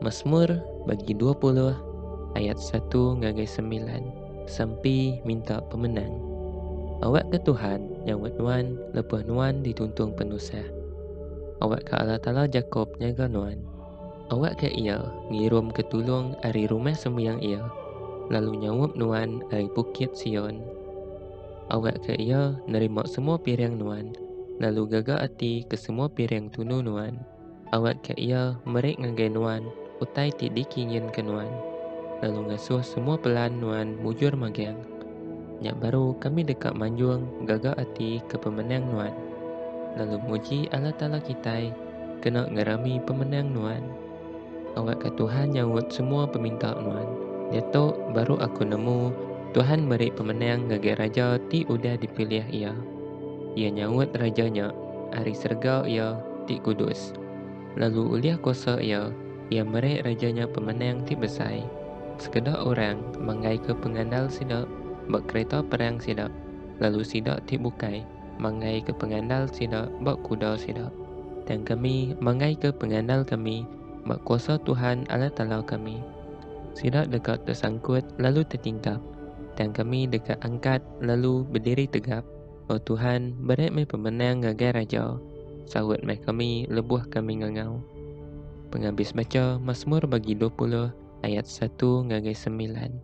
Masmur bagi dua puluh ayat satu ngagai semilan Sampi minta pemenang Awakka Tuhan nyaut nuan lebuh nuan dituntung penusah. Awakka Allah Taala Jakop nyaga nuan. Awakka Iya ngirumka tulung ari Rumah Sembiang Iya, lalu nyaup nuan ari Bukit Sion. Awakka Iya nerima semua piring nuan, lalu gaga ati ke semua piring tunu nuan. Awakka Iya meri ngagai nuan utai ti dikinginka nuan, lalu ngasuh semua pelan nuan mujur magang. Nya baru kami deka manjung gaga ati ke pemenang nuan, lalu muji Allah Taala kitai kena ngerami pemenang nuan. Anggaka Tuhan nyaut semua peminta nuan. Diatu baru aku nemu Tuhan meri pemenang ngagai raja ti udah dipilih Iya. Iya nyaut raja nya ari serega iya ti kudus. Lalu ulih kuasa Iya, Iya meri raja nya pemenang ti besai. Sekeda orang manggaika pengandal sida ba kereta perang sida, lalu sida ti bukai, mangaika pengandal sida ba kuda sida. Tang kami mangaika pengandal kami ba kuasa Tuhan Allah Taala kami. Sida deka tesangkut lalu tetingkap, tang kami deka angkat lalu bediri tegap. O Tuhan, beri meh pemenang ngagai raja, saut meh kami lebuh kami ngangau. Pengabis bacha Masmur bagi dua puluh ayat satu ngagai semilan.